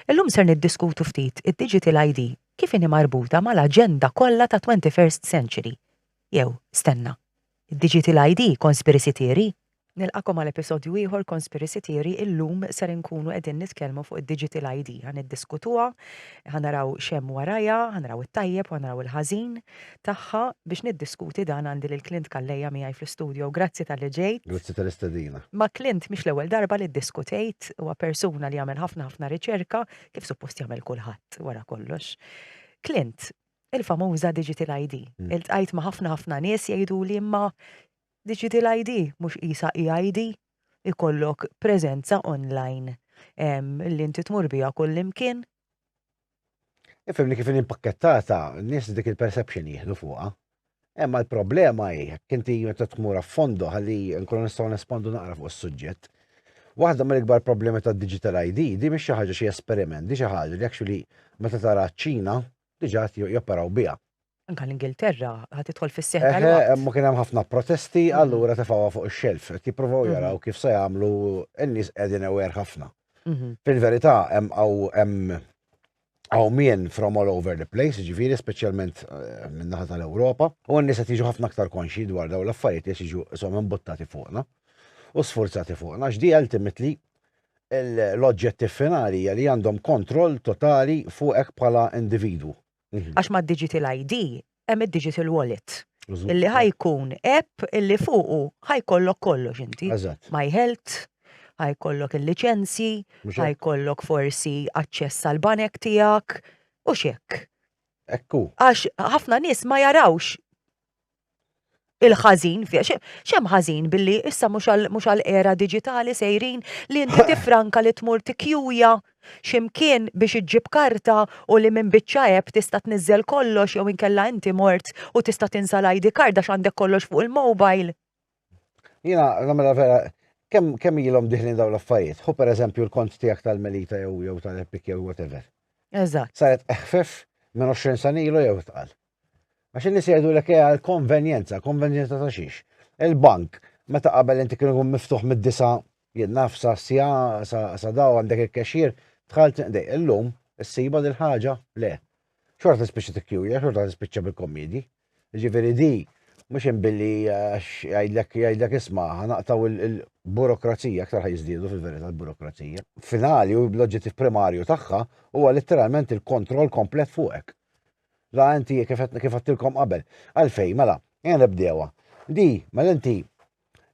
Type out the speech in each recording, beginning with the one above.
Illum ser niddiskutu ftit id-Digital ID kif inhi marbuta mal-aġenda kollha ta' Twenty First Century, jew, stenna, id-Digital ID Conspiracy Theory? Nilqagħkom għal episodju ieħor Conspiracy Theory, illum ser inkunu qegħdin nitkellmu fuq id-Digital ID, ħa niddiskutuha, ħa naraw x'hemm warajha, ħa naraw it-tajjeb u ħa naraw il-ħażin, tagħha biex niddiskuti dan għandi lil Clint Calleja miegħi fl-istudio. Grazzi talli ġejt. Grazzi tal-istedina. Ma' Clint mhix l-ewwel darba li ddiskutejt, huwa persuna li jagħmel ħafna ħafna riċerka, kif suppost jagħmel kulħadd wara kollox. Clint, il-famuża Digital ID. Iltqajt ma' ħafna ħafna nies jgħiduli imma Digital ID mhux qisha e-ID? Ikollok preżenza online li inti tmur biha kullimkien? Ifhem li kif inhi mpakkettata, n-nies dik il-perception jieħdu fuqha. Imma l-problema hi jekk inti meta tmur affondo ħalli nkunu nistgħu nespondu naqra fuq is-suġġett. Waħda mill-ikbar problemi tad-digital ID di mhix xi ħaġa xi esperiment, di xi ħaġa li actually meta tara ċ-Ċina diġà qed joperaw biha. Anka l-Ingilterra ħad tidħol fis-seħħ eh, tal-waqt. Eh, ma kien hemm ħafna protesti, mm. allura tefgħuha fuq ix-xelf. Qed jippruvaw mm-hmm. jaraw kif se jagħmlu n-nies qegħdin ewer ħafna. Mm-hmm. Fil-verità hemm hemm hawn min from all over the place, ġifieri speċjalment eh, min-naħa tal-Ewropa, u n-nies qed jiġu ħafna aktar konxi dwar dawn l-affarijiet li jiġu isom imbuttati fuqna u sforzati fuqna. X'di ultimately l-oġġettiv finali li għandhom kontroll totali fuqek bħala individwu. Mhm. Għax ma' digital ID hemm id-digital wallet. Illi ħajkun app illi fuqu ħajkollok kollox inti. My health, ħajkollok il-licenzji, ħajkollok forsi aċċess għal banek tiegħek u xek. Ekku. Għax ħafna nies ma jarawx il-ħażin, xem ħażin billi issa mhux għal era digitali sejrin li inti tifranka li tmur tikjuja ximkien biex iġġib karta u li minn biċċa eb tista' tniżżel kollox jew inkella inti mort u tista' tinsa l-ID card għax għandek kollox fuq il-mobile. Jina, namela vera, kem, kem ilhom diħlin daw l-affarijiet. Hu per eżempju l-kont tiegħek tal-Melita jew jew tal-Epic jew whatever. Eżatt. Saret eħfef minn 20 sanilu jew tqal. Għax in-nies jgħidu lek hija l-konvenjenza, konvenjenza ta' xiex. Il-bank, meta qabel inti kienu jkun miftuħ mid-disa, jien naf sa sja, sa daw għandek il-cashier, tħalt dej, illum, issiba dil-ħaġa, le. Xorta tispiċċa tikkjuja, xorta tispiċċa bil-kommedi. Jiġifieri di mhux hemm billi għax jgħidlek jgħidlek isma' ħanaqtgħu l-burokrazija, aktar ħajżdiedu fil-verità l-burokrazija. Finali u l-oġġettiv primarju tagħha huwa litteralment il-kontroll komplet fuqek. La inti kif kif għattilkom qabel. Għalfej, mela, ejja nibdewha. Di, mela inti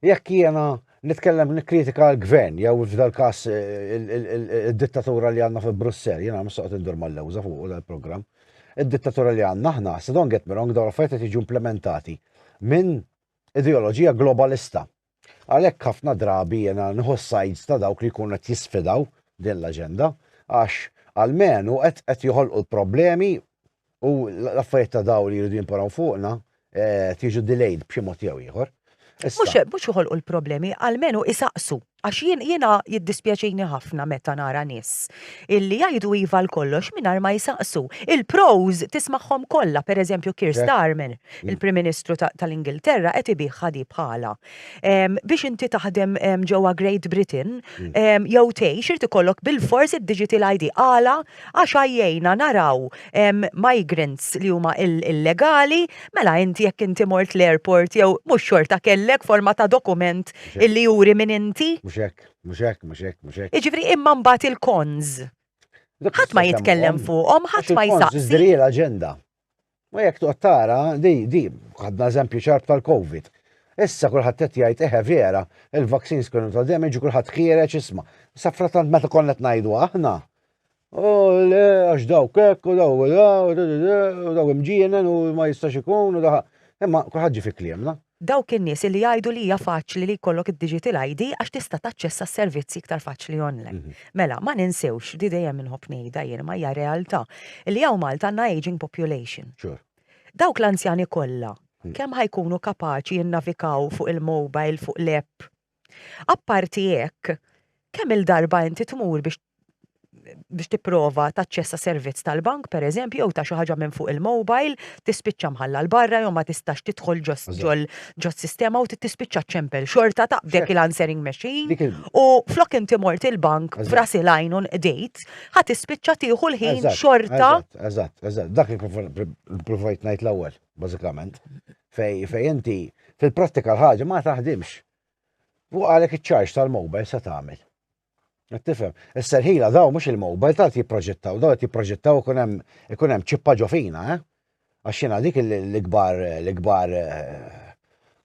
jekk jiena nitkellem nikkritika l-gvern, jew f'dal każ eh, id-dittatura li għandna fi Brussell, jiena mistoqt indur mal-lewża fuq dal-programm. Id-dittatura li għandna aħna, se don get me wrong, dawn l-affarijiet qed jiġu implementati minn ideoloġija globalista. Għalhekk ħafna drabi jiena nħu sajds ta' dawk li jkunu qed jisfidaw din l-aġenda, għax għalmenu qed qed joħolqu l-problemi U l-affarijiet ta' daw li jridu jimparaw fuqna eh, tiġu delayed b'xi mod jew ieħor. Mux mux joħolqu l-problemi, għalmenu isaqsu. Għax jien jiena jiddispjaċini ħafna meta nara nis illi jgħidu iva l-kollox minar ma jisaqsu. Il-pros tismaħħom kollha, per eżempju Kir Starmer, mm. il-Prim Ministru tal-Ingilterra, qed ibih ħadi bħala. Biex inti taħdem ġewwa Great Britain, mm. jew tgħix irid ikollok bil-fors id-digital ID għala Għax għajjejna naraw migrants li huma illegali, mela inti jekk inti mort l-airport jew mhux xorta kellek forma ta' dokument illi juri min inti. Mhux hekk, mhux hekk, mhux hekk, mhux hekk. Jiġifieri imma mbagħad il-cons. Ħadd ma jitkellem fuqhom, ħadd ma jsaqsi. Għax il-cons iżżri l-aġenda. Ma jekk toqgħod tara di di ħadna eżempju ċarb tal-COVID. Issa kulħadd qed jgħid eħe vera, il-vaccines kienu ta' damage u kulħadd ħiereġ isma'. Sa fratant meta konna qed ngħidu aħna. U le għax daw kek u daw u daw imġienen u ma jistax ikun u daħ. Imma kulħadd ġi fi kliemna. Dawk in-nies li jgħidu li hija faċli li jkollok id-digital ID għax tista' taċċessa s-servizzi iktar faċli online. Mela, ma ninsewx, di dejjem inħobb ngħidha jien imma hija realtà, li hawn Malta għandna ageing population. Dawk l-anzjani kollha, kemm ħa jkunu kapaċi jinnavikaw fuq il-mobile, fuq l-app, Apparti hekk, kemm-il darba inti tmur biex biex tipprova taċċessa servizz tal-bank pereżempju jew ta' xi ħaġa minn fuq il-mobile, tispiċċa mħalla l-barra jew ma tistax tidħol ġos sistema u tispiċċa ċempel xorta ta' dik il-answering machine u flok inti mort il-bank f'ras il-għajn u nqdejt, ħa tispiċċa tieħu l-ħin xorta. Eżatt, eżatt, dak li provajt ngħid l-ewwel, bażikament. fejn fejn inti fil-prattika l-ħaġa ma taħdimx. Fuq għalhekk iċ-charge tal-mobile se tagħmel. Qed tifhem? Is-serħila daw mhux il-mobile tal jipproġettaw, daw qed jipproġettaw ikun hemm ikun hemm ċippa ġofina, eh? Għax jiena dik l-ikbar l-ikbar eh,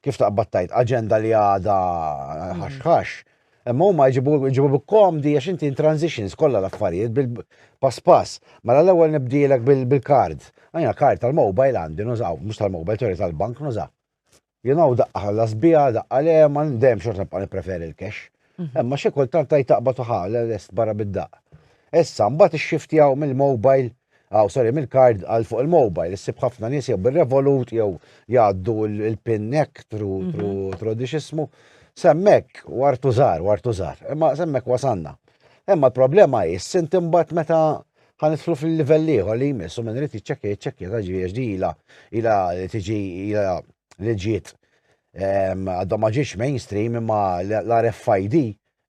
kif taqbad tajt aġenda li għada ħaxħax Imma huma jġibu komdi għax inti in transitions kollha l-affarijiet bil-pass pass. Mela l-ewwel nibdielek bil-kard. Għajna kard tal-mobile għandi nużaw, mhux tal-mobile, sorry tal-bank nużaw. You know, daqqa ħalla sbija, daqqa le, ma ndem xort nibqa' nippreferi l-cash. Mhm. Imma xi kultant tajt taqbad uħal, l-est barra bid-daqq. Issa, mbagħad ix-shift mill-mobile Aw, sorry, mill-kard għal fuq il-mobile, issib ħafna nies jew bir-revolut jew jgħaddu il-pin nek tru tru tru dixismu. Semmek wartu żar, wartu żar, imma semmek wasanna. Imma l-problema hi sint imbagħad meta ħanidħlu fil-livell ieħor li jmissu minn irid jiċċekkja jiċċekkja ta' ġviex di ila ila li tiġi ila li ġiet għadhom ma ġiex mainstream imma l-RFID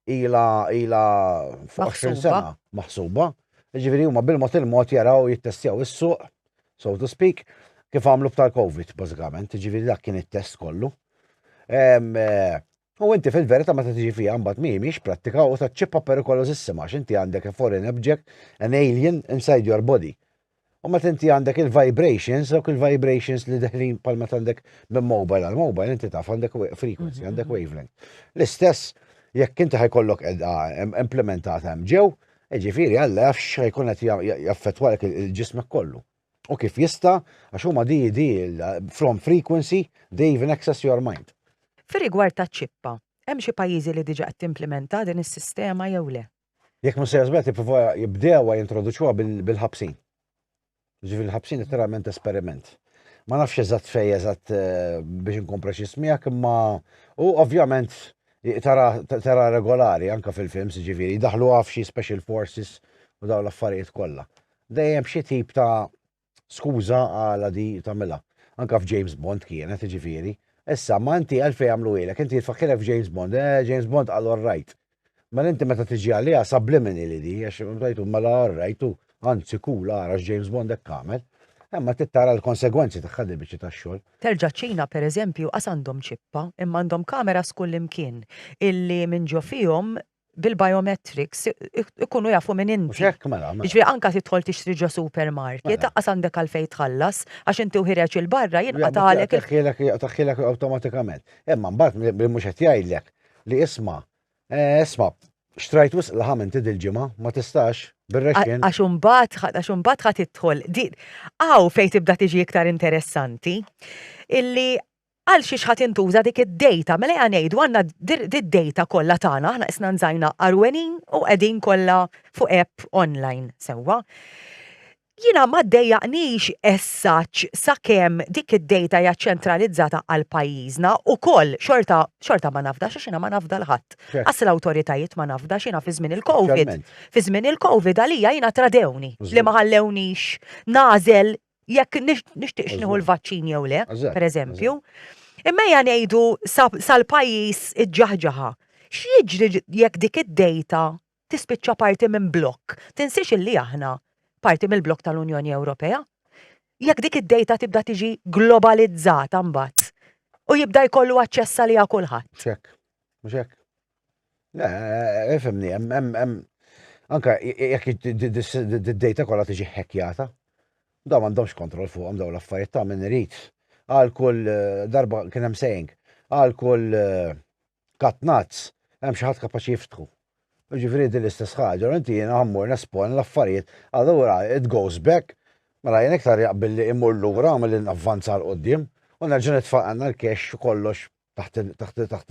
ila ila fuq 20 sena maħsuba. Ġifieri huma bil-mod il-mod jaraw jittestjaw is-suq, so to speak, kif għamlu b'tal-COVID bażikament, ġifieri dak kien it-test kollu. Eh, u inti fil-verità meta tiġi fiha mbagħad mhijiex prattika u taċċippa perikolożissima għax inti għandek a foreign object, an alien inside your body. U meta inti għandek il-vibrations, dawk il-vibrations li deħlin pal meta għandek minn mobile għal mobile, inti taf għandek frequency, għandek mhm. wavelength. L-istess, jekk inti ħajkollok edha implementata hemm ġew, ġifiri għalla jafx ħajkun qed jaffettwalek il-ġismek kollu. U kif jista, għax huma di di from frequency, they even access your mind. Fir-rigward ta' ċippa, hemm xi pajjiżi li diġa qed timplementa din is-sistema jew le? Jekk mhux sejja żball tipprova jibdewha jintroduċuha bil-ħabsin. Ġifieri l-ħabsin literalment esperiment. Ma nafx eżatt fej eżatt eh, biex nkun preċis miegħek imma u ovvjament tara regolari anka fil-films ġifieri daħlu għaf xi special forces u daw l-affarijiet kollha. Dejjem xi tip ta' Skuża għala di tagħmilha. Anka f'James Bond kienet, jiġifieri. Issa, ma inti għalfejn għamluhielek, inti tfakkirek f'James Bond, eh, James Bond qal all right. Mela inti meta tiġi għaliha subliminal hi di, għax tajtu mela all right u anzi cool ara x'James Bond hekk għamel. Imma tittara l-konsegwenzi tagħha di biċċi tax-xogħol. Terġa' ċ-Ċina pereżempju qas għandhom ċippa, imma għandhom kameras kullimkien illi minn ġo fihom bil-biometrics ikunu jafu minn inti. Xek, mela, mela. Ġvi, anka titħol tixtri ġo supermarket, mela. taqqas għandek għalfej tħallas, għax inti uħireċ il-barra jinqa taħalek. Taħħilek automatikament. Emma, mbatt, mux għet jgħidlek li isma, eh, isma, xtrajt wisq laħam inti dil-ġimma, ma tistax, bil-reċin. Għax umbat, għax umbat għat titħol. Għaw fej tibda tiġi iktar interessanti, illi Għal xiex ħa tintuża dik id-dejta? Mela ejja ngħidu għandna d-dejta kollha tagħna, aħna qisna nżajna għarwenin u qegħdin kollha fuq app online, sewwa. Jiena ma ddejjaqnix as-such sakemm dik id-dejta hija ċċentralizzata għal pajjiżna ukoll xorta xorta ma nafdax għax jiena ma nafda l ħadd. Qas l-awtoritajiet ma nafdax jiena fi żmien il-Covid. Fi żmien il-Covid għalija jiena tradewni li ma ħallewniex nagħżel jekk nixtieqx nieħu l-vaċċin jew le, pereżempju. Imma ja ngħidu sal-pajjiż iġġaħġaħa. X'jiġri jekk dik id-dejta tispiċċa parti minn blokk? Tinsiex illi aħna parti mill-blokk tal-Unjoni Ewropea? Jekk dik id-dejta tibda tiġi globalizzata mbagħad u jibda jkollu aċċess għaliha kulħadd. Mhux hekk? Le, ifhimni, hemm anka jekk id-data kollha tiġi ħekjata, daw m'għandhomx kontroll fuqhom daw l-affarijiet ta' min irid. Għal kull eh, darba kien hemm saying, għal kull eh, katnazz hemm xi ħadd kapaċi jiftħu. Ġifieri din l-istess ħaġa, inti jiena ħammur nespon l-affarijiet, allura it goes back, mela jien iktar jaqbilli imur lura milli navvanza l qoddim u nerġa' nitfaq għandna l-cash kollox taħt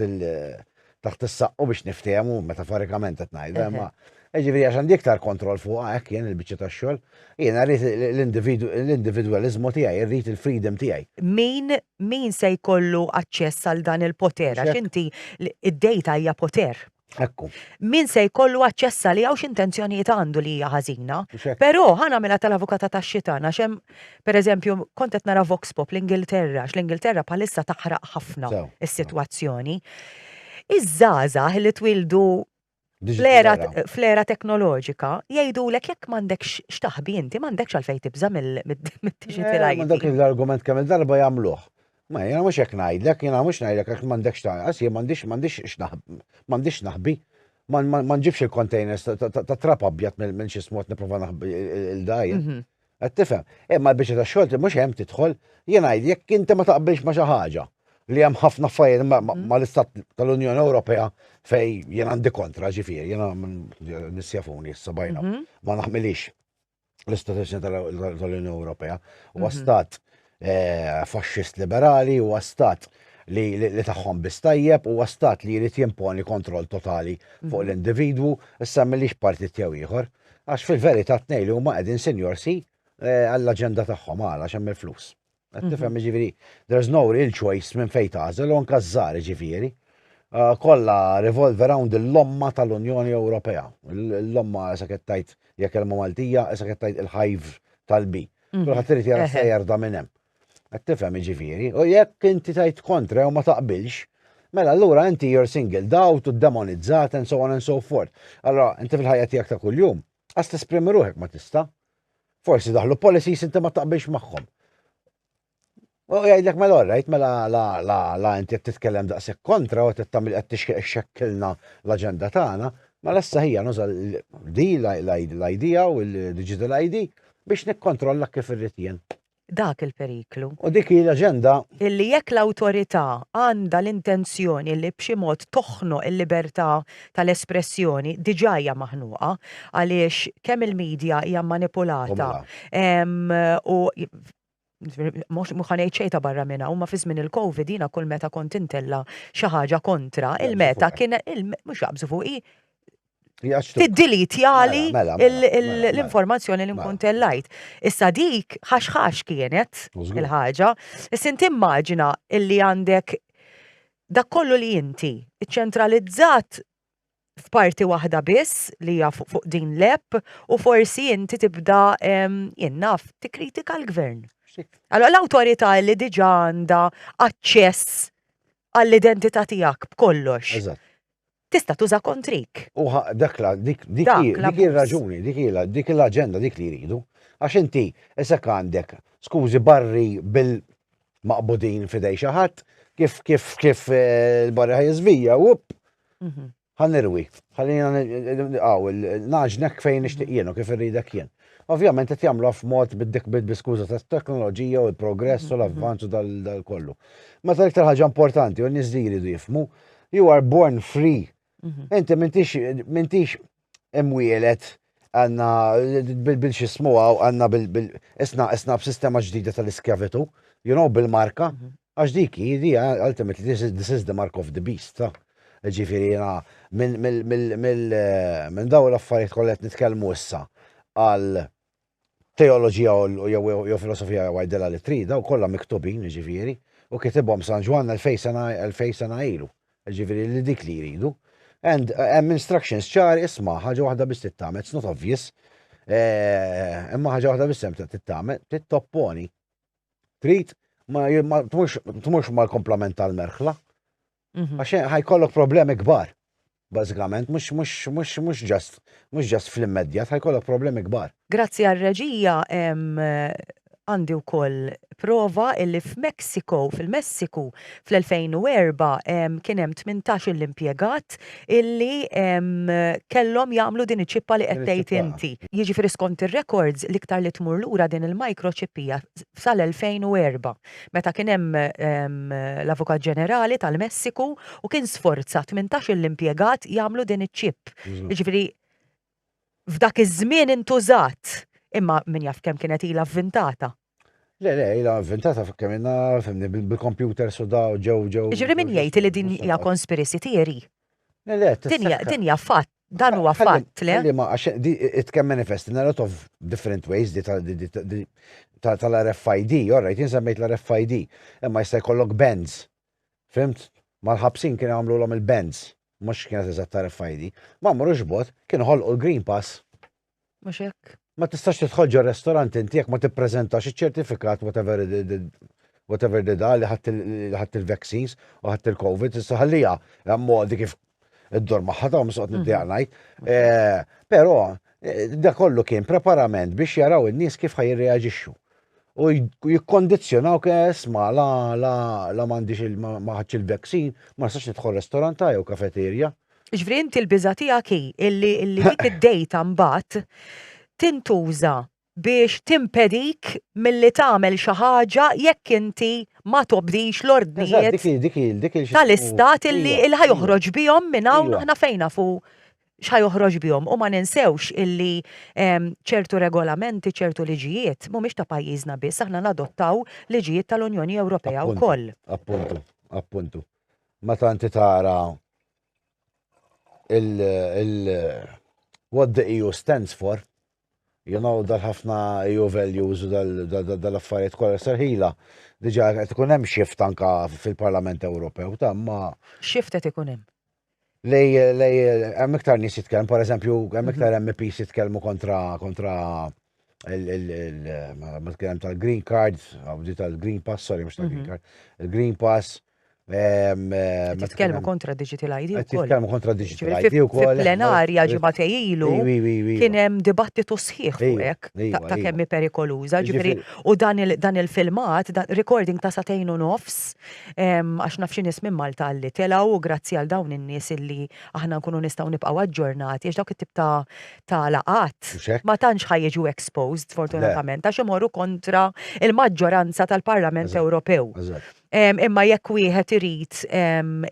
il- taħt is-saqqu biex niftehmu metaforikament qed ngħidha, imma ġifieri għax għandi iktar kontroll fuq hekk jien il-biċċa tax-xogħol, jiena rrid l-individwaliżmu tiegħi, irrid il-freedom tiegħi. Min min se jkollu aċċess għal dan il-poter għax inti id-dejta hija poter. Ekku. Min se jkollu aċċessa li għawx intenzjonijiet għandu li hija ħażina. Però ħana mela tal-avukata ta' xitan għax hemm pereżempju kont qed nara Vox Pop l-Ingilterra għax l-Ingilterra bħalissa taħraq ħafna is-sitwazzjoni. Iż-żgħażagħ li twildu fl-era teknoloġika jgħidulek jekk m'għandekx x'taħbi inti m'għandekx għalfejn tibża' mid-digital. Dak l-argument kemm il-darba jagħmluh. Ma jiena mhux hekk ngħidlek, jiena mhux ngħidlek għax m'għandekx tagħqas, jien m'għandix m'għandix m'għandix x'naħbi. Ma nġibx il-containers ta' trab abjad minn xi smot nipprova naħbi il-dajja. Mhm. Qed tifhem? Imma l-biċċa ta' xogħol mhux hemm tidħol, jien ngħid jekk inti ma taqbilx ma' xi ħaġa li hemm ħafna affarijiet mhm. mal-Istat tal-Unjoni Ewropea fej jien għandi kontra ġifieri, jiena nissjafuni issa bajna, mhm. ma naħmilix. l-istituzzjoni tal-Unjoni Ewropea. U mhm. stat eh, faxxist liberali, u stat li, li taħħom bistajjeb u stat li jrid jimponi kontroll totali fuq mhm. l-individwu, issa millix partit jew ieħor. Għax fil-verità tnej li huma qegħdin sinjorsi eh, għall-aġenda tagħhom għala xemm il-flus. Qed tifhem jiġifieri there's no real choice minn fejn tagħżel u anke żgħar jiġifieri. Ah, kollha revolve around il-lomma tal-Unjoni Ewropea. Il-lomma issa qed tgħid jekk kelma Maltija, issa qed tgħid il-hive tal-bi. Mhm. Kulħadd irid jara se jerda minn hemm. Qed tifhem jiġifieri. U jekk inti tgħid kontra jew ma taqbilx, mela allura inti you're singled out u demonizzat and so on and so forth. Allora, inti fil-ħajja tiegħek ta' kuljum, Għas tesprimi ruħek ma tista. Forsi daħlu policies inti ma taqbilx magħhom. U jgħidlek mela orrajt, mela la la la inti qed titkellem daqshekk kontra u qed tagħmel qed tixkeq xekkilna l-aġenda tagħna, mela issa ħija nuża di l-ID u l-digital ID biex nikkontrolla kif irrid jien. dak il-periklu. U dik hi l-aġenda. Illi jekk l-awtorità għandha l-intenzjoni li b'xi mod toħnoq il-libertà tal-espressjoni, diġà hija maħnuqa għaliex kemm il-media hija mmanipulata u mhux ħa ngħid xejn ta' barra minn hawn, ma fi żmien il-Covid jiena kull meta kont intella' xi ħaġa kontra, il-meta kien mhux jaqbżu fuqi, Tiddilitjali mela, mela, mela, l-informazzjoni li nkun tellajt. Issa dik ħaxħax kienet il-ħaġa. Issa inti immaġina illi għandek dak kollu li inti ċentralizzat f'parti waħda biss li hija fuq din l-app u forsi inti tibda jinnaf tikkritika l-gvern. Allora l-awtorità li diġa għandha aċċess għall-identità tiegħek b'kollox. tista' tuża kontrik. U dak la, dik ir-raġuni, dik ilha, dik l-aġenda dik li jridu. Għax inti isek għandek skużi barri bil maqbudin f'idej xi ħadd, kif kif kif eh, l-barri ħajżvija, up, mhm. ħanirwi, ħallina għaw, naġnek fejn nixtieq jien u kif irridek jien. Ovvjament qed jagħmlu f'mod bid-dik bid-biskuża tat-teknoloġija u l-progress u mhm, mhm. l-avvanzu dal-kollu. Meta l-iktar ħaġa importanti u n-nies li jridu jifmu You are born free. Mhm. Inti mintix, mintix imwielet għanna bil-xismu għaw għanna bil-isna isna b'sistema ġdida tal-iskjavitu, you know, bil-marka, mhm. għax dik jidi ultimately this is, this is the mark of the beast, ta' ġifiri jena minn daw l-affarijiet kollet nitkelmu issa għal Teoloġija jew filosofija jew għidilha li trid, dawn kollha miktubin, jiġifieri, u kitibhom San Ġwann elfejn sena ilu, jiġifieri li dik li jridu. And hemm instructions ċari isma' ħaġa waħda biss tittagħmel, it's not obvious, eh, imma ħaġa waħda biss hemm tittagħmel, trid topponi. Trid ma tmurx mal-komplement tal-merħla, Mhm. Għax ħajkollok problemi kbar. Bażikament, mhux mhux mhux mhux ġast mhux ġast fl-immedjat, ħajkollok problemi kbar. Grazzi għar-reġija em, eh, għandi wkoll prova illi f'Mexico, fil-Messiku, fl-2004 em, kien hemm 18 l-impjegat illi em, kellhom jagħmlu din iċ-ċippa li qed Din tgħid iċ-ċippa. inti. Jiġifieri skont ir-records l-iktar li tmur lura din il-microchip hija sal-2004. meta kien hemm l-Avukat Ġenerali tal-Messiku u kien sforza tmintax-il impjegat jagħmlu din iċ-chip. Jiġifieri f'dak iż-żmien intużat, imma min jaf kemm kienet ilha vvintata. Le, le, ilha vvintata kemm ilna fimni bil-kompjuters u daw ġew ġew. Jiġifieri min jgħid li din hija conspiracy theory Le, le, Dinja, dinja fatt, dan huwa fatt, le? Li ma għax it can manifest in a lot of different ways di tal-RFID, orrajt, jinsemmejt l-RFID, imma jista' jkollok bands. Fimt? Mal-ħabsin kien għamlu l-om il-bands, mux kienet eżatt RFID. Ma murux bot, kien ħolqu l-Green Pass. Mhux hekk? Ma tistax tidħol ġo restaurant inti jekk ma tippreżentax iċ-ċertifikat whatever whatever did li ħadd il-vaccines u ħadd il-COVID, issa ħallija hemm modi kif id-dor magħha ta' msoqt mhm. niddeja ngħid. Eh, però eh, da kollu kien preparament biex jaraw in-nies kif ħajreaġixxu. U jikkondizzjonaw kes ma la la la m'għandix il-vaccine, ma nistax nidħol restorant jew kafeterja. Ġifri inti l-biża tiegħek hi illi dik id-data mbagħad tintuża biex timpedik milli tagħmel xi ħaġa jekk inti ma tobdix l-ordnijiet tal-istat illi ħa joħroġ bihom minn hawn aħna fejn nafu x'ħa joħroġ bihom u ma ninsewx illi ċertu regolamenti, ċertu liġijiet mhumiex ta' pajjiżna biss aħna nadottaw liġijiet tal-Unjoni Ewropea wkoll. Appuntu, appuntu. meta inti tara il, il what the EU stands for, you know, dal-ħafna EU values u dal-affarijiet kollha serħila, diġà qed ikun hemm shift anka fil-Parlament Ewropew ta' ma. Shift qed ikun hemm. li hemm iktar nies jitkellmu, per eżempju, hemm mhm. iktar MPs jitkellmu kontra kontra il-tkellem tal-green card, għabdi tal-green pass, sorry, mux tal-green mhm. card, il-green pass. Titkellmu kontra digital ID u Titkellmu kontra digital ID u koll. Fil-plenarja ġimatej ilu kien hemm dibattitu sħiħ fuq ta' kemmi perikoluża, ġifieri u dan il-filmat, recording ta' satejn u nofs Għax naf xi nies minn Malta li telgħu u grazzi għal dawn in-nies illi aħna nkunu nistgħu nibqgħu aġġornati għax dawk it-tip ta' ta' laqgħat Mhux hekk? ma tantx ħa jiġu exposed Le. sfortunatament għax imorru kontra l-maġġoranza tal-Parlament Eżatt, Ewropew. eżatt. Imma jekk wieħed irid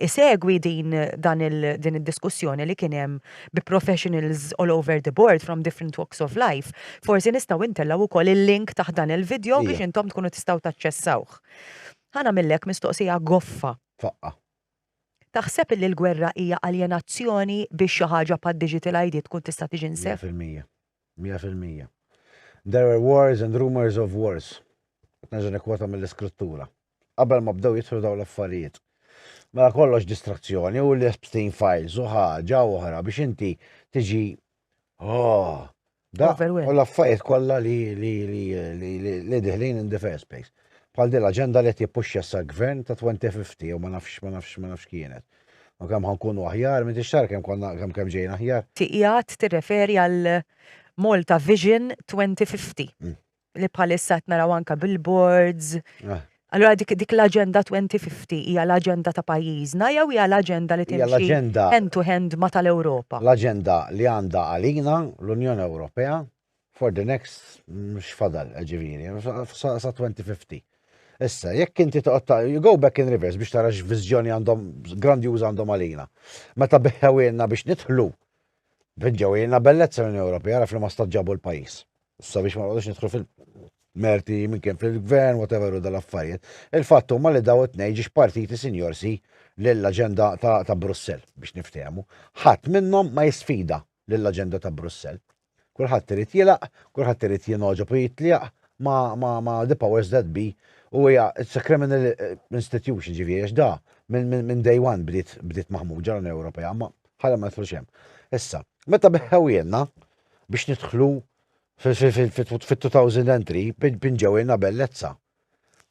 isegwi din dan il din id-diskussjoni li kien hemm bi professionals all over the board from different walks of life, forsi nistgħu ntellgħu wkoll il-link taħt dan il-vidjow biex Ija. intom tkunu tistgħu taċċessawh. Ħa nagħmillek mistoqsija goffa. Faqqa'. Taħseb illi l-gwerra hija aljenazzjoni biex xi ħaġa bħad-digital ID tkun tista' tiġi nsef? Mija fil-mija. Mija fil-mija. There were wars and rumours of wars. Qed nerġa' nikkwota mill-Iskrittura. Qabel ma bdew jidħlu dawn l-affarijiet. Mela kollox distrazzjoni u li Epstein Files u ħaġa oħra biex inti tiġi Oh, da, u l-affarijiet kollha li li li li li diħlin in the first place. Bħal din l-aġenda li qed jippuxxa sa gvern ta' 2050 u ma nafx ma nafx ma nafx kienet. U kemm ħankunu aħjar, minn tixtar kemm konna kemm kemm ġejna aħjar. Tiqiegħed tirreferi għal Malta Vision 2050. li bħalissa qed naraw anke billboards. Ah. Allura dik dik l-aġenda 2050 hija l-aġenda ta' pajjiżna jew hija l-aġenda li timxi hand to hand ma tal-Ewropa? L-aġenda li għandha għalina l-Unjoni Ewropea for the next x'fadal ġifieri sa 2050. Issa, jekk inti toqgħod you go back in reverse biex tara x'viżjoni għandhom grandjuża għandhom għalina. Meta beħewilna biex nidħlu, ġewilna bellezza l-Unjoni Ewropea raf li ma staġġabu l-pajjiż. sabiex ma nqogħdux nidħlu fil-merti minn kien fil-gvern, whatever u dal-affarijiet. Il-fatt huma li daw it-tnejn ġiex partiti sinjorsi lill-aġenda ta' Brussell biex niftehmu. Ħadd minnhom ma jisfida lill-aġenda ta' Brussell. Kulħadd irid jilaq, kulħadd irid jinoġob u jitlieq ma' the powers that be u hija it's a criminal eh, institution ġifieri għax da minn day one bdiet bdiet maħmuġa l-Unjoni Ewropea ma ħalem ma nidħlux hemm. Issa, meta beħħew jenna, biex nidħlu fit-2000 entry pinġewilna bellezza.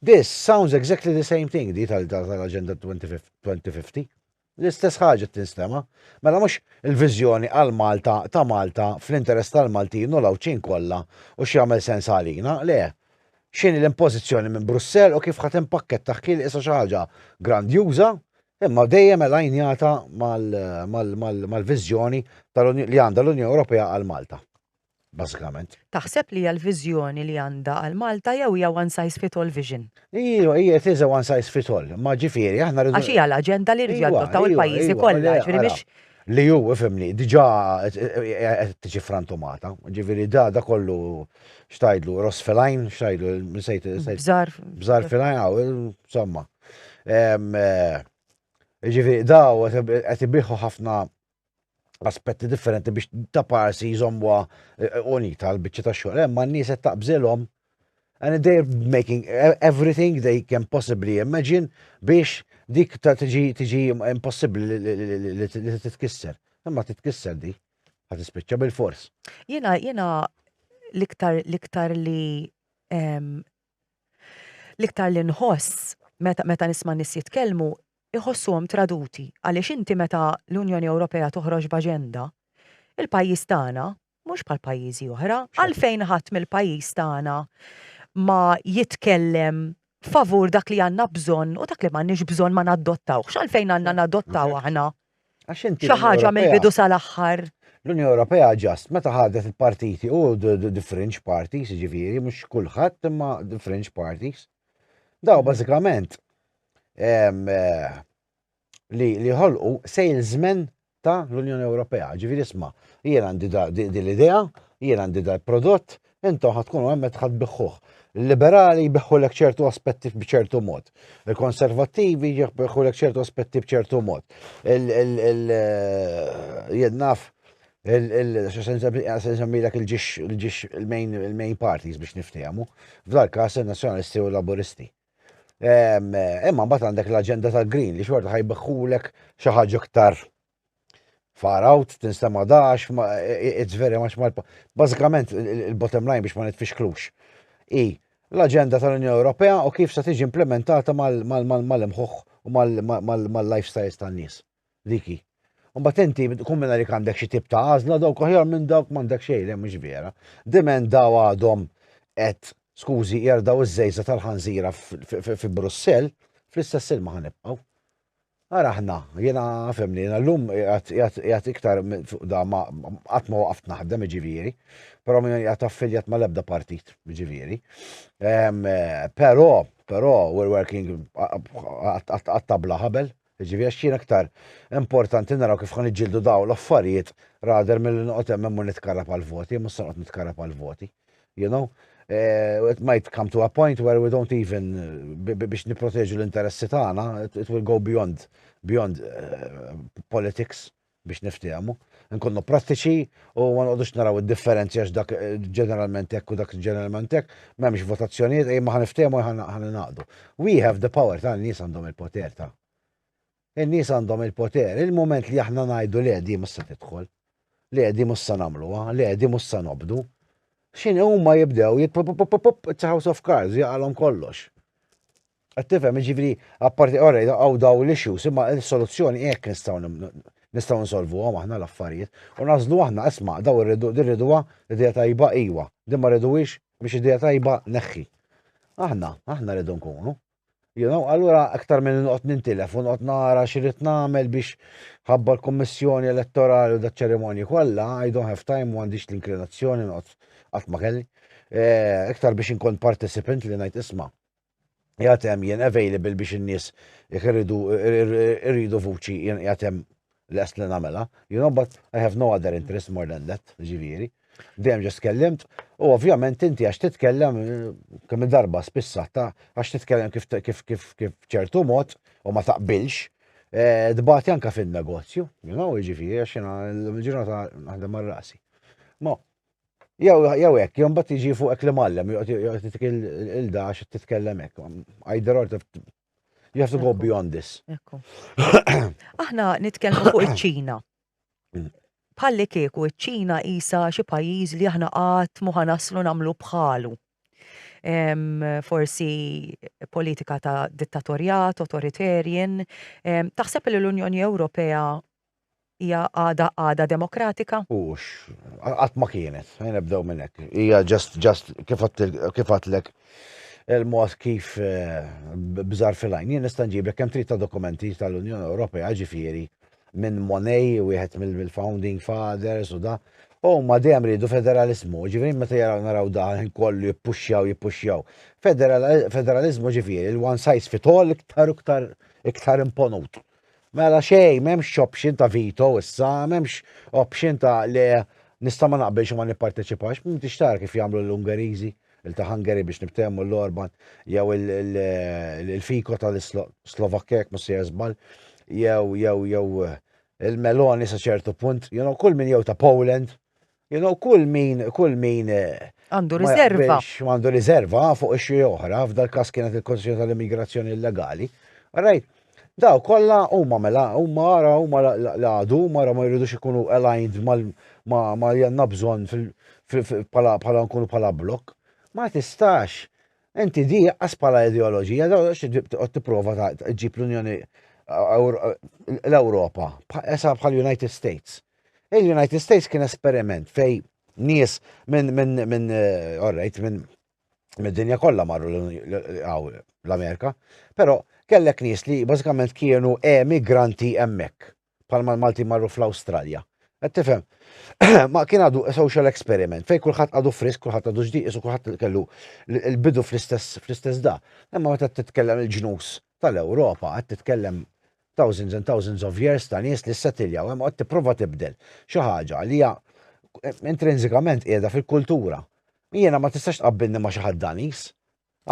This sounds exactly the same thing di tal-Agenda 2050. L-istess ħaġa tinstema. Mela mhux il-viżjoni għal Malta ta' Malta fl-interess tal-Maltin u l-Għawdxin kollha u x'jagħmel sens għalina, le. X'inhi l-impożizzjoni minn Brussell u kif ħadd impakkettaħ kien issa xi ħaġa grandjuża Imma dejjem elajnjata mal-viżjoni li għandha l-Unjoni Ewropea għal Malta. Bażikament. Taħseb li hija l-viżjoni li għandha għal Malta jew hija one size fit all vision? Iju, hija it is a one size fit all, ma ġifieri aħna rridu. Għax hija l-aġenda li rridu adottaw il-pajjiżi kollha, ġifieri mhix. Li hu, ifhimni, diġà qed tiġi frantumata, ġifieri da da kollu xtajdlu, ross filajn, xtajdlu, sejt. Bżar. Bżar filajn, insomma. Ġifieri daw qed ibiħu ħafna aspetti differenti biex ta' parsi jżommuha eh, unita l-biċċa ta' xogħol. Hemm nies qed taqbżilhom and they're making e-, everything they can possibly imagine biex dik ta' tiġi tiġi impossibbli li titkisser. Imma titkisser di, ħad tispiċċa bil-fors. Jiena jiena l-iktar l-iktar li L-iktar li nħoss meta meta nisma' nies jitkellmu jħossuhom traduti għaliex inti meta l-Unjoni Ewropea toħroġ b'aġenda, il-pajjiż tagħna, mhux bħal pajjiżi oħra, għalfejn ħadd mill-pajjiż tagħna ma jitkellem favur dak li għandna bżonn u dak li m'għandniex bżonn ma nadottawhx, għalfejn għandna nadottaw aħna Għax inti. Xi ħaġa mill-bidu sal-aħħar. L-Unjoni Ewropea ġast meta ħadet il-partiti u the fringe parties, ġifieri mhux kulħadd imma the fringe parties. Daw bażikament eh, li li ħolqu salesmen ta' l-Unjoni Ewropea, ġifieri isma' jien għandi din l-idea, jien għandi dal prodott, Intom ħad tkunu hemm ħad biħħuh. Il-liberali jbiħħu lek ċertu aspetti b'ċertu mod. Il-konservattivi jbiħħu lek ċertu aspetti b'ċertu mod. Il-jennaf il-sensemmilek il-ġiġ il-main parties biex niftehmu. F'dal kas il-nazjonalisti u laburisti. Imma bat għandek l-agenda tal-green li xorta ħajbeħħulek xi ħaġa iktar Far out, tinstema dax, it's very much my... Bażikament, il-bottom line biex ma nitfixklux. I, l-aġenda tal-Unjoni Ewropea u kif se tiġi implementata mal-imħuħ u mal-lifestyles tan-nies. Diki. Mbagħad inti kun minn għalik għandek xi tip ta' għażla dawk aħjar minn dawk m'għandek xejn le mhux vera. Diment daw għadhom qed skużi jerdaw iż-żejża tal-ħanżira fi Brussell, fl-istess ilma ħanibqgħu. Ara aħna, jiena nfhem li jiena llum qiegħed iktar fuq da ma qatt ma waqaft naħdem jiġifieri, però m'iniex qiegħed affiljat mal-ebda partit jiġifieri. Però, però we're working għat-tabla ħabel jiġifieri għax jiena iktar importanti naraw kif ħa niġġieldu dawn l-affarijiet rather milli noqgħod hemm u nitkarrab għall-voti, jien mhux se noqgħod nitkarrab għall-voti. You know? Uh, it might come to a point where we don't even biex niproteġu l-interessi tagħna, it will go beyond beyond uh, politics biex niftehmu. Nkunnu prattiċi u ma noqgħodux naraw id-differenzi għax dak eh, ġeneralment hekk u dak ġeneralment hekk, m'hemmx votazzjonijiet ej ma ħaniftehmu ħan naqdu. We have the power ta' nies għandhom il-poter ta' In-nies għandhom il-poter. Il-mument li aħna ngħidu le di mhux se tidħol, le di mhux se nagħmluha, le di mhux se nobdu, x'inhi huma jibdew jit pup pup pup pup it's a house of cards jaqalhom kollox. Qed tifhem jiġifieri apparti orrej hawn daw l-issues imma s-soluzzjoni hekk nistgħu nistgħu nsolvuhom aħna l-affarijiet u nażlu aħna isma' daw irridu din riduha idea tajba iwa, din ma riduhiex mhix idea tajba neħħi. Aħna, aħna rridu nkunu. You know, allura aktar minn noqgħod nintilef u noqgħod nara x'irid nagħmel biex ħabba l-Kummissjoni Elettorali u daċ-ċerimonji kollha, I don't have time u għandix l-inklinazzjoni noqgħod qatt ma kelli. Eh, iktar biex inkun participant li ngħid isma' jgħatem jien available biex in-nies jekk irridu irridu vuċi jien jgħatem lest li nagħmilha, you know, but I have no other interest more than that, ġifieri. Dejjem ġest kellimt, u ovvjament inti għax titkellem kemm darba spissata, għax titkellem kif kif kif kif ċertu mod u ma taqbilx, eh, dbati anka fin-negozju, you know, ġifieri għax jiena l-ġurnata naħdem mar rasi. Ma jew jew hekk, jew mbagħad jiġi fuqek li mallem, joqgħod il-dax titkellem hekk. Either or You have to go beyond this. Aħna nitkellmu fuq iċ-Ċina. Mm. Bħalli kieku iċ-Ċina isa xi pajjiż li aħna qatt muħa naslu nagħmlu bħalu. Forsi politika ta' dittatorjat, authoritarian. Taħseb li l-Unjoni Ewropea Hija għada għada demokratika? Ux, qatt ma kienet, nibdew minn hekk. Hija ġast ġast kif għatlek il-mod kif eh, bżar fil-għajn. Jien nista' nġiblek kemm trid ta' dokumenti tal-Unjoni Ewropea ġifieri minn Monej, wieħed mill-founding fathers u da. U ma dejjem ridu federalizmu, ġifieri meta jaraw naraw daħin kollu jippuxxjaw jippuxxjaw. Federalizmu ġifieri l-one size fit all iktar iktar iktar imponut. Mela xejn, m'hemmx option ta' veto issa, m'hemmx option ta' le nista' ma naqbilx u ma nipparteċipax, m'intix tara kif jagħmlu l-Ungeriżi, il-Hungary biex nibtehmu l-Orban, jew il-Fiko tal-Slovakkja jekk mhux se żball, jew jew jew il-Meloni sa ċertu punt, you know, kull min jew ta' Poland, You know, kull min, kull min. Għandu riserva. Għandu riserva fuq ix-xi oħra, f'dal każ kienet il-Konsil tal-Immigrazzjoni Illegali. Rajt, daw kollha huma mela huma ara huma l-għadu huma ma jridux ikunu aligned ma li għandna bżonn bħala nkunu bħala blok. Ma tistax inti di qas bħala ideoloġija daw qed tipprova ġġib l-Unjoni l-Ewropa, esa bħal-United States. Il-United States kien esperiment fej nies minn minn minn eh, alright minn mid-dinja kollha marru l-Amerika, però kellek nies li bażikament kienu emigranti hemmhekk, bħalma l-Malti marru fl-Awstralja. Qed tifhem? Ma kien għadu social experiment fej kulħadd għadu frisk, kulħadd għadu ġdieq, isu kulħadd kellu l-bidu fl-istess fl-istess da. Imma meta titkellem il-ġnus tal-Ewropa qed titkellem thousands and thousands of years ta' nies li ssettiljaw hemm u qed tipprova tibdel xi ħaġa li hija intrinsikament qiegħda fil-kultura. Jiena ma tistax tqabbilni ma' xi ħadd Daniż.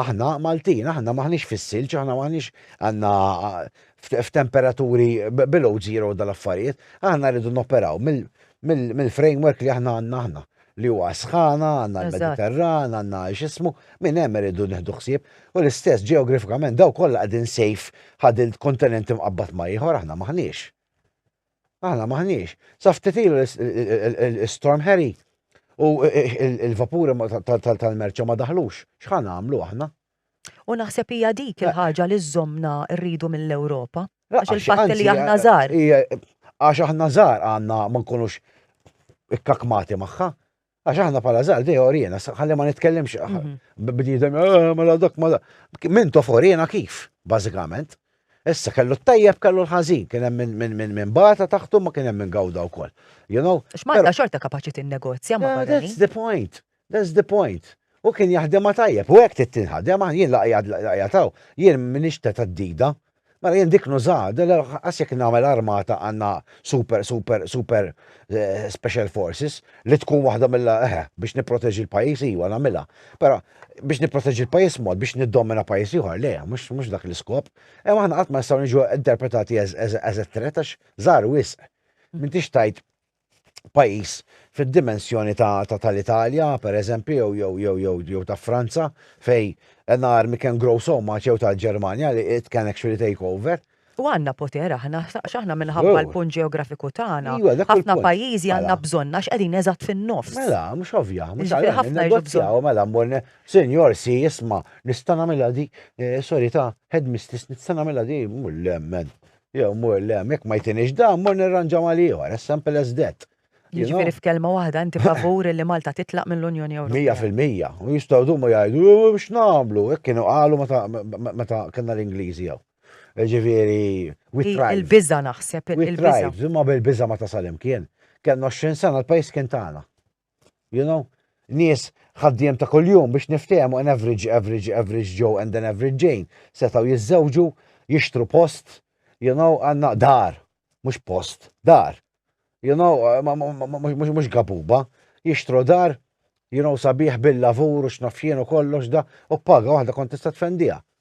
Aħna Maltin, aħna m'aħniex fis-silġ, aħna m'aħniex għandna f'temperaturi below zero dal-affarijiet, aħna rridu noperaw mill-framework li aħna għandna aħna. li huwa s-sħana, għandna l-Mediterran, għandna x'ismu, minn hemm irridu nieħdu ħsieb, u l-istess ġeografikament daw kollha qegħdin sejf ħadil kontinent imqabbad ma' ieħor aħna maħniex. Aħna maħniex. Sa ftit ilu l-Storm Harry u il-vapuri tal-merċa ma daħlux. X'ħan għamlu aħna? U naħseb hija dik eh. il-ħaġa li żommna rridu mill-Ewropa. Eh, għax il-fatt li aħna eh, żgħar. Għax aħna żgħar għandna ma nkunux ikkakmati magħha. Għax aħna pala żgħar dej orjena, ħalli ma nitkellimx mhm. bniedem ma la dak ma la. Min tof orjena kif, bażikament. Issa kellu t-tajjeb kellu l-ħażin, kien hemm minn min min min bata taħtu ma kien hemm minn gawda wkoll. You know? X'Malta xorta kapaċi tinnegozja ma' That's the point. That's the point. Hu kien jaħdimha tajjeb u hekk trid tinħadem, aħna jien l-qiegħed hawn, jien m'iniex ta' theddida. Mela jien dik nużaha, lanqas jekk nagħmel armata għandna super super super special forces li tkun waħda mill eħe, biex nipproteġi l-pajjiż iva nagħmilha. Però biex nipproteġi l-pajjiż mod biex niddomina pajjiż ieħor le, mhux dak l-iskop. Imma aħna qatt ma nistgħu niġu interpretati as a threat għax żgħar wisq. M'intix tajt pajjiż fid-dimensjoni ta' tal-Italja, pereżempju, jew jew jew jew jew ta' Franza, fej an army can grow so much jew tal-Ġermanja li it can actually take over. U għandna poter aħna, għax aħna minħabba l-punt ġeografiku tagħna, ħafna pajjiżi għandna bżonn għax qegħdin eżatt fin-nofs. Mela, mhux ovvja, mhux għalhekk ħafna negozjaw, mela mmur Sinjor, si isma' nista' nagħmilha di, sorry ta' headmistress nista' nagħmilha di, le men, Jew mur le hemm, jekk ma jtinix dan, mur nirranġa mal-ieħor, as simple as that. Jiġifieri f'kelma waħda inti favur li Malta titlaq mill-Unjoni Ewropea? Mija fil-mija. U jistgħu jdumu jgħidu, u x'nagħmlu? Hekk kienu qalu meta kellna l-Ingliżi hawn. Jiġifieri, we tried. Il-biża' naħseb, il-biża'. We tried, imma bil-biża' ma tasal imkien. Kellna 20 sena l-pajjiż kien tagħna. You know? Nies ħaddiem ta' kuljum biex niftehmu an average, average, average Joe and an average Jane setaw jiżżewġu, jixtru post, you know, għanna dar, mhux post, dar. You know, mhux gabuba, jixtru dar, you know, sabiħ bil-lavur u x'nafjien u kollox da, u paga waħda kont tista' tfendija.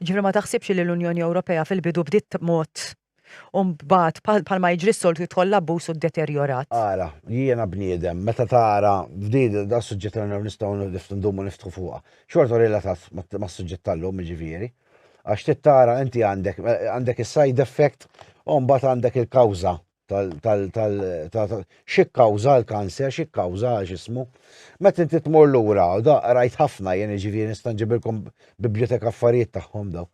Jiġifieri ma taħsibx li l-Unjoni Ewropea fil-bidu bdiet b'mod u mbagħad bħalma jiġri s-soltu jidħol l-abbuż u ddeterjorat. Ara, jiena bniedem, meta tara f'din dan is-suġġett li aħna nistgħu ndumu niftħu fuqha, xorta hu relatat mas-suġġett tal-lum jiġifieri, għax trid tara inti għandek għandek is-side effect u mbagħad għandek il-kawża tal tal tal xikkawża l-kanser, xikkawża x'ismu. Meta inti tmur lura, da rajt ħafna jien ġifieri nista' nġibilkom bibliotek affarijiet tagħhom daw.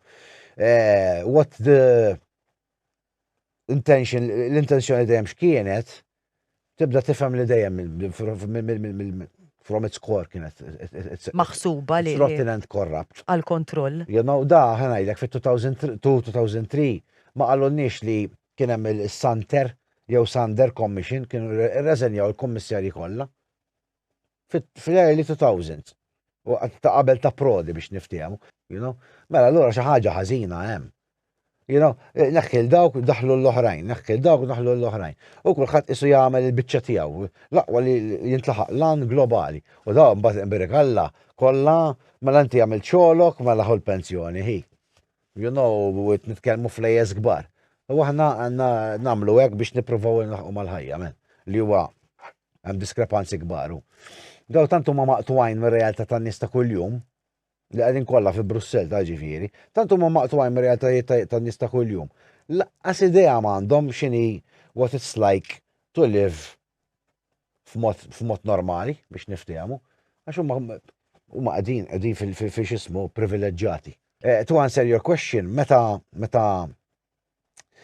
Eh, what the intention, l-intenzjoni dejjem x'kienet, tibda tifhem li dejjem from its core kienet. Maħsuba li. Rotten and corrupt. Għal-kontroll. You know, da ħanajdek fit-2002-2003 ma qalunniex li Kien hemm is-Santer jew Sander Commission, kienu rreżenjaw il-kummissarji kollha fl-early 2000s, waqt ta' qabel ta' Prodi biex niftehmu, you know. Mela allura xi ħaġa ħażina hemm. You know, neħħi 'l dawk, daħħlu 'l oħrajn, neħħi 'l dawk, daħħlu 'l oħrajn. U kulħadd qisu jagħmel il-biċċa tiegħu, l-aqwa li jintlaħaq l-għan globali. U dawn mbagħad imbierik Alla, kollha, mela inti għamilt xogħlok, mela ħu l-pensjoni, hi. You know, qed nitkellmu flejjes kbar. U aħna għandna nagħmlu hekk biex nippruvaw inlaħqu mal-ħajja, men, li huwa hemm diskrepanzi kbar. Daw tant huma maqtwajn mir-realtà tan-nies ta' kuljum, li qegħdin kollha fi Brussell ta' ġifieri, tant huma maqtwajn mir-realtajiet tan-nies ta' kuljum. Laqqas idea m'għandhom x'inhi what it's like to live f'mod f'mod normali biex niftehmu, għax huma huma qegħdin qegħdin fil- fil- fil- x'ismu privileġġjati. Eh, to answer your question, meta meta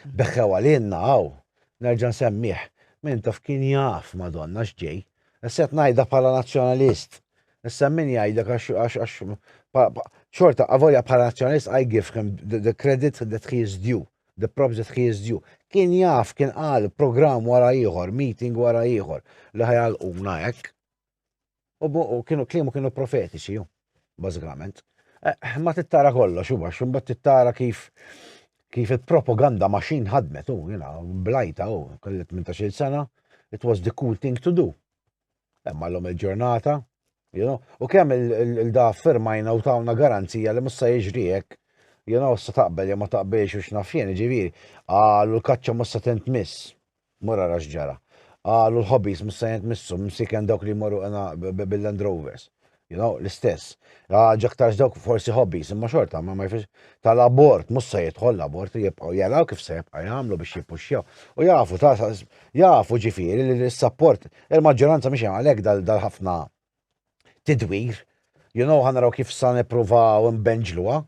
beħħew għalina hawn, nerġa' nsemmih, min taf kien jaf Madonna x'ġej. Issa qed ngħidha bħala nazzjonalist. Issa min jgħidlek għax għax għax pa- pa- xorta avolja bħala nazzjonalist I give him the, the credit that he is due. the props that he is due. Kien jaf, kien qal programm wara ieħor, meeting wara ieħor, li ħajalquna hekk. U kienu kliemu kienu profetiċi, bażikament. Eh, ma tittara kollox, u għax, bat tittara kif kif il-propaganda maċin ħadmet, u jina, blajta, u kellet minn ta' xil sena, it was the cool thing to do. Imma l-lum il-ġurnata, you know, u kemm il-da firmajna u tawna garanzija li mussa jiġrijek, you know, sa taqbel jew ma taqbilx u xnafjen, ġiviri, għalu l-kaċċa mussa tent miss, mura rax ġara. Għalu l-hobbies mussa jent missu, msiken dawk li jmorru għana bil-Land Rovers. You know, l-istess. Ħaġa aktarx dawk forsi hobbies, imma xorta, ma ma jfix tal-abort, mhux se jidħol l-abort li jibqgħu jaraw kif se jibqa' jagħmlu biex jippuxxjaw. U jafu ta' jafu ġifieri li l-sapport il-maġġoranza mhix għalhekk dal-ħafna tidwir. You know, ħanaraw kif sa nippruvaw imbenġluha.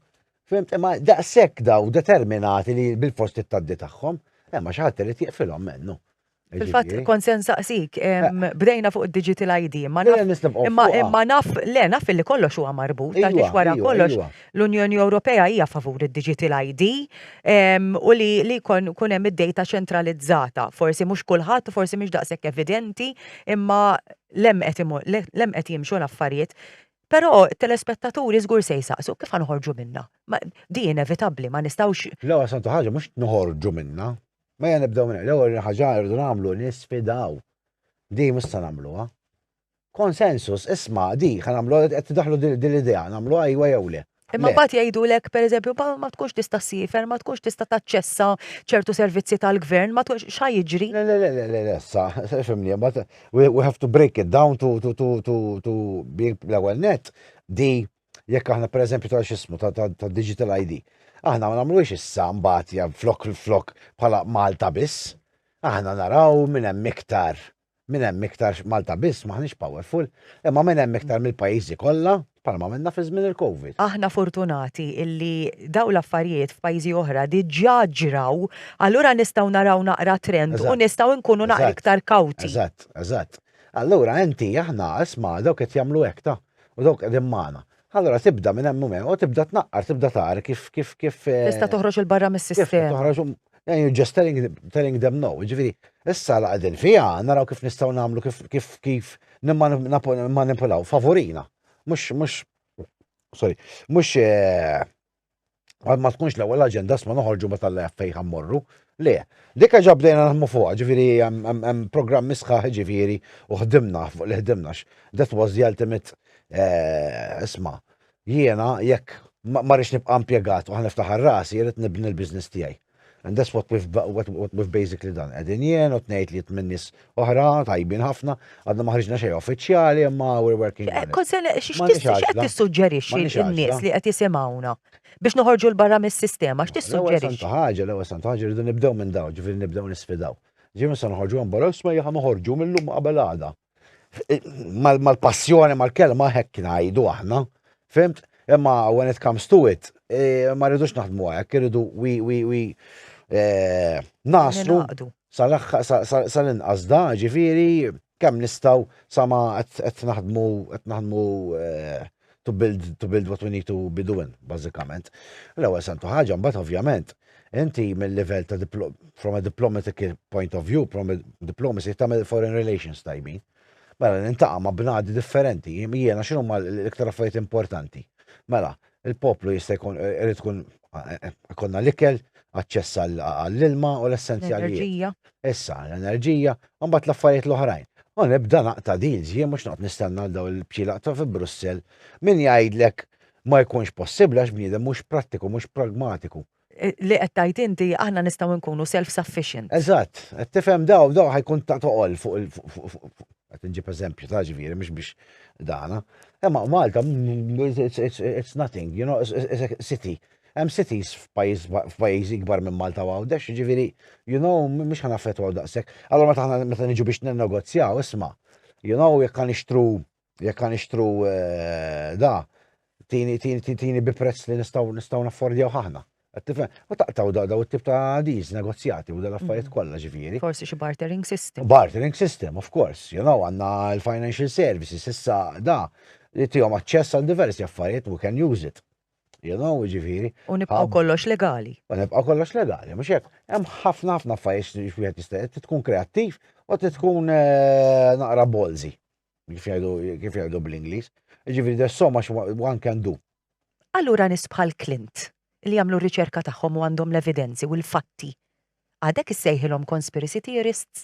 Fimt, imma daqshekk daw determinati li bil-fost it-taddi tagħhom, imma xi ħadd irid jiqfilhom mennu. Fil-fatt, kont sen saqsik, bdejna fuq il-digital ID, imma naf, le, naf li kollox huwa marbut, għax iva, wara iva, kollox iva. l-Unjoni Ewropea hija favur il-digital ID u li kun hemm id-data ċentralizzata. Forsi mhux kulħadd, forsi mhux daqshekk evidenti, imma lem qed jimxu l-affarijiet. Però telespettaturi żgur se jsaqsu, kif ħanħorġu minna? Di inevitabbli, ma nistgħux. L-ewwel santu ħaġa mhux noħorġu minna. Mejja nibdew minn l-ewwel ħaġa rridu nagħmlu nisfidaw. Di mhux se nagħmluha. Konsensus, isma' di ħa nagħmlu qed tidaħħlu din l-idea, nagħmluha ajwa jew le. Imma mbagħad jgħidulek, pereżempju, ma tkunx tista' ssiefer, ma tkunx tista' taċċessa ċertu servizzi tal-gvern, ma tkunx x'ħa jiġri? Le, le, le, le, le, sa, fimni, we have to break it down to being l-ewwel net, di Jekk aħna pereżempju ta' x'ismu ta' digital ID, aħna ma nagħmluhiex issa mbagħad ja flok flok bħala Malta biss. Aħna naraw minn hemm iktar minn hemm iktar Malta biss m'aħniex powerful, imma minn hemm iktar mill-pajjiżi kollha bħalma minna fi żmien il-COVID. Aħna fortunati illi dawn l-affarijiet f'pajjiżi oħra diġà ġraw, allura nistgħu naraw naqra trend u nistgħu nkunu naqra iktar kawti. Eżatt, eżatt. Allura inti aħna isma' dawk qed jagħmlu hekk ta'. u dawk qegħdin magħna. Allura tibda minn hemm u tibda tnaqqar, tibda tara kif kif kif. Eh, Tista' toħroġ il barra mis-sistema. Toħroġ um, eh, you're just telling, telling them no. Ġifieri, issa la qegħdin fiha naraw kif nistgħu nagħmlu kif kif kif nimmanipulaw favorina. Mhux mhux sorry, mhux eh, Għad ma tkunx l-ewwel aġenda sma noħorġu ma tal fej ħammorru. Le, dikka ġa bdejna naħmu fuqha, ġifieri hemm programm misħaħ ġifieri u ħdimna fuq li ħdimna that was the ultimate eh, isma. Jiena jekk ma rridx nibqa' impjegat u ħaniftaħar rasi jrid nibni l-business tiegħi. And that's what we've, what, what we've basically done. Edin jien u tnejt li minn nis oħra, tajbin ħafna, għadna maħriġna xej uffiċjali, imma we're working on it. Konsen, x'qed tissuġġerixxi n-nies li qed jisimgħuna biex noħorġu l-barra mis-sistema, x'tissuġġerixxi? L-ewwel ħaġa, l-ewwel sant ħaġa rridu nibdew minn daw, ġifieri nibdew nisfidaw. Ġifieri se noħorġu għan barra, isma' jaħa noħorġu mill-lum qabel għada. mal-passjoni, mal-kelma, hekk ngħidu aħna, fimt? Imma when it comes to it, eh, ma rridux naħdmu għajak, rridu wi wi wi eh, naslu sal-inqas da, ġifiri, kemm nistaw sama qed naħdmu qed naħdmu eh, to build, to build what we need to be doing, bazzikament. L-ewel santu ħagġa, mbat ovvjament, inti mill-level ta' from a diplomatic point of view, from a diplomacy, ta' foreign relations tajbin. Mela, nintaqa ma' bnadi differenti, jiena xinu ma' l-iktar affarijiet importanti. Mela, il-poplu jista' jkun, eh, irid tkun konna l-ikel, aċċess għall-ilma u l-essenzjalijiet. Issa, l-enerġija, u mbagħad l-affarijiet l-oħrajn. U nibda naqta' deals, jien mhux noqgħod nistenna daw il-bċilaq ta' fi Brussell. Min jgħidlek ma jkunx possibbli għax bniedem mhux prattiku, mhux pragmatiku. Eh, li qed tgħid inti aħna nistgħu nkunu self-sufficient. Eżatt, qed tifhem daw daw ħajkun ta' toqol fuq Għat nġib eżempju ta' ġviri, mux biex dana. Emma Malta, it's nothing, you know, it's a city. Em cities f'pajizi gbar minn Malta u għawdex, ġviri, you know, mux ħana fetu għaw daqsek. Allora meta ħana meta nġu biex n-negozjaw, isma, you know, jekk għan ixtru, jekk għan ixtru eh, da, tini, tini, tini, tini bi prezz li nistaw, nistaw naffordjaw ħahna. Għattifem, u taqtaw daw daw it-tip ta' diz, negozjati u dal-affarijiet mhm. kollha ġifieri. Forsi xi bartering system. Bartering system, of course. You know, għandna l-financial services, issa da, li tihom aċċess għal diversi affarijiet, we can use it. You know, ġifieri. U nibqgħu kollox legali. U nibqgħu kollox legali, mhux hekk. Hemm ħafna ħafna affarijiet li wieħed jista' tkun kreattiv u tkun eh, naqra bolzi. Kif jgħidu kif jgħidu bl-Ingliż. Ġifieri there's so much one can do. Allura nies bħal Clint li jagħmlu r-riċerka tagħhom u għandhom l-evidenzi u l-fatti, għadek issejħilhom conspiracy theorists?